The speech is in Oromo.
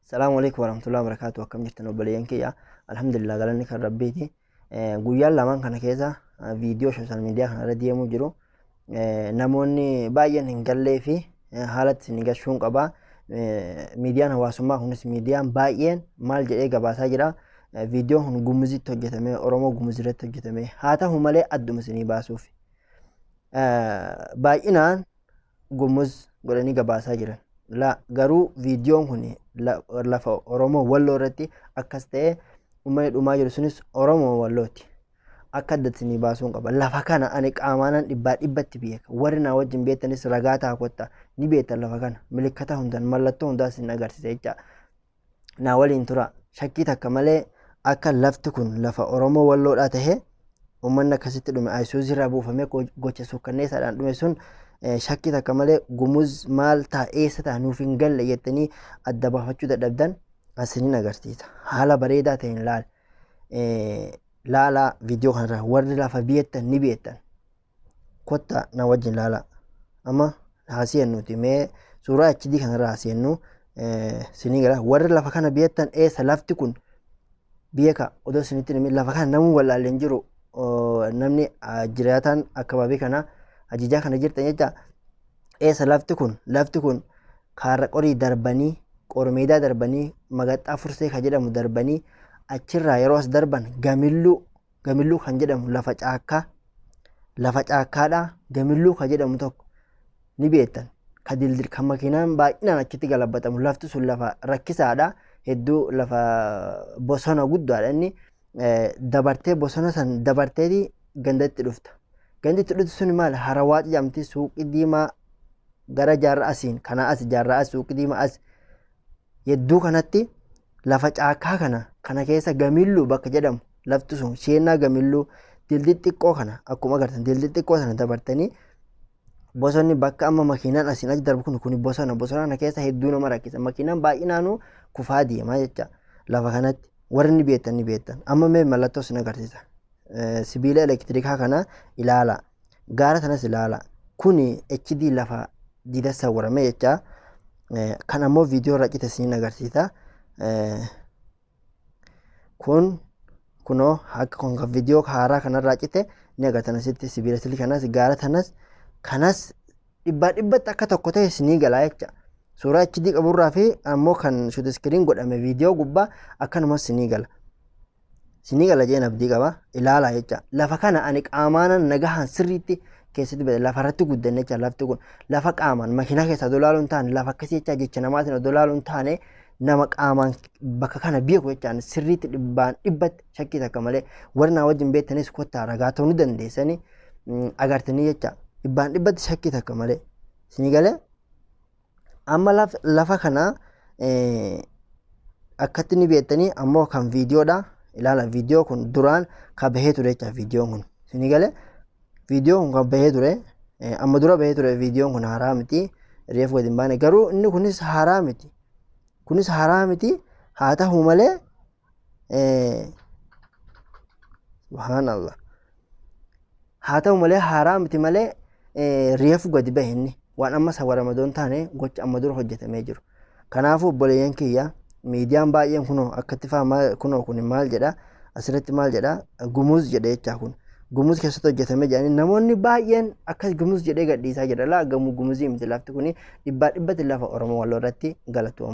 Salaamu alaikum warahmatullahi wabarakatuh akkam jirtan obboleeyyan kiyya alhamdulillah galanni kan rabbiiti Eh, guyyaan lamaan kana keessa eh, viidiyoo sooshaal miidiyaa kanarra deemuu jiru Eh, namoonni baay'een hin gallee fi eh, haalatti isin gashuun qaba Eh, miidiyaan hawaasummaa kunis miidiyaan baay'een maal jedhee gabaasaa jira Eh, viidiyoon kun gumuzitti hojjetame oromoo gumuzirratti hojjetame haa ta'u malee adduma isinii baasuuf Eh, baay'inaan Gumuz godhanii gabaasaa jiran. La garuu viidiyoon kun lafa Oromoo Walloo irratti akkas ta'ee uummanni dhumaa jiru sunis Oromoo Wallooti. Akka addatti ni baasuun qaba. Lafa kana ani qaamaanan dhibbaa dhibbatti beeka. Warri naa wajjin beektanis ragaa ta'a kotta. Ni beektan lafa kana. Milikkata hundan mallattoo hundaas hin agarsiisa jecha. naa waliin tura. Shakkii takka malee akka lafti kun lafa Oromoo Walloodhaa tahe uummanni akkasitti dhume Ayisuuzii irraa buufamee go- gocha suukkanneessaadhaan dhume sun eh, shakkii takka malee gumuz maal ta'a eessa ta'a nuuf hin galle jettanii adda baafachuu dadhabdan asiniin agarsiisa. Haala bareedaa ta'een laal. Eh, Laalaa viidiyoo kanarraa warri lafa biyettan ni beektan. kottaa na wajjin laala amma haaseennuuti mee suuraa HD kanarraa haaseennu sinii gala warri lafa kana beektan eessa lafti kun beeka odoo sinitti himin lafa kana namuu wallaalle hin jiru namni jiraataan akkabaabii kana ajijaa kana jirtan jecha eessa lafti kun lafti kun kaarra qorii darbanii qormeedaa darbanii magaxxaa fursee ka jedhamu darbanii achirraa yeroo as darban gamilluu Gamilluu kan jedhamu lafa caakkaa lafa caakkaadhaa gamilluu kan jedhamu tokko ni beektan ka dildil kan makiinaan baay'inaan achitti galabbatamu lafti sun lafa rakkisaadha hedduu lafa bosona guddaadha inni dabartee bosona san dabarteeti gandatti dhufta ganditti dhufti sun maal harawaa jedhamti suuqii diimaa gara jaarraa asiin kanaa as jaarraa as suuqii diimaa as Yedduu kanatti lafa caakkaa kana kana keessa gamilluu bakka jedhamu lafti sun sheennaa gamilluu dildi xiqqoo kana akkuma agartan dildi xiqqoo sana dabartanii bosonni bakka amma makiinaan asiin achi darbu kun kun bosona bosona kana keessa hedduu nama rakkisa makiinaan baay'inaanuu kufaa deemaa jecha lafa kanatti warri ni beektan ni beektan amma mee mallattoo sin agarsiisa sibiila elektirikaa kana ilaala Gaara sanas ilaala. Kuni HD lafa diida sawwarame jecha. Eh, Kan ammoo viidiyoo irra cite siin agarsiisa. Eh, Kun kunoo akka kun kan viidiyoo haaraa kanarraa cite ni agartan asitti sibiila silii kanas gaara sanas kanas dhibbaa dhibbatti akka tokko ta'e sinii galaa jecha. Suuraa HD qaburraa fi ammoo kan shuut iskiriin godhame viidiyoo gubbaa akkanumas sinii gala. Sinii gala jeen abdii qaba ilaalaa jecha lafa kana ani qaamaanan nagahaan sirriitti keessatti bade lafa irratti guddan jecha lafti kun lafa qaamaan makiinaa keessaa odoo ilaaluu hin taane lafa akkasii jecha jecha namaatiin odoo ilaaluu hin taane nama qaamaan bakka kana beeku jechaan sirriitti dhibbaan dhibbatti shakkii takka malee warri naa wajjin beektanis kottaa ragaa ta'uu ni dandeessanii agartanii jecha dhibbaan dhibbatti shakkii takka malee sinii galee Amma laf- lafa kana eh, akkatti ni beektanii ammoo kan viidiyoodha. Ilaala viidiyoo kun duraan kan bahee ture jecha viidiyoon kun. Isinii galee viidiyoon kun kan bahee ture eh, amma dura bahee ture viidiyoon kun haaraa miti. Reef gadi hin baane garuu inni kunis haaraa miti. Kunis haaraa miti haa ta'u malee subhaanallah haa ta'u malee haaraa miti malee reefu gadi bahe inni waan amma sawwa ramadoon taane gocha amma dura hojjetamee jiru kanaafuu obboleeyyan kiyya miidiyaan baay'een kunoo akkatti faa maal kunoo kun maal jedha asirratti maal jedha gumuuz jedhe jechaa kun gumuuz keessatti hojjetamee jedhanii namoonni baay'een akkas gumuuz jedhee gadhiisaa jira laa gamuu gumuuzii miti lafti kun dhibbaa dhibbatti lafa oromoo walloo irratti galatooma.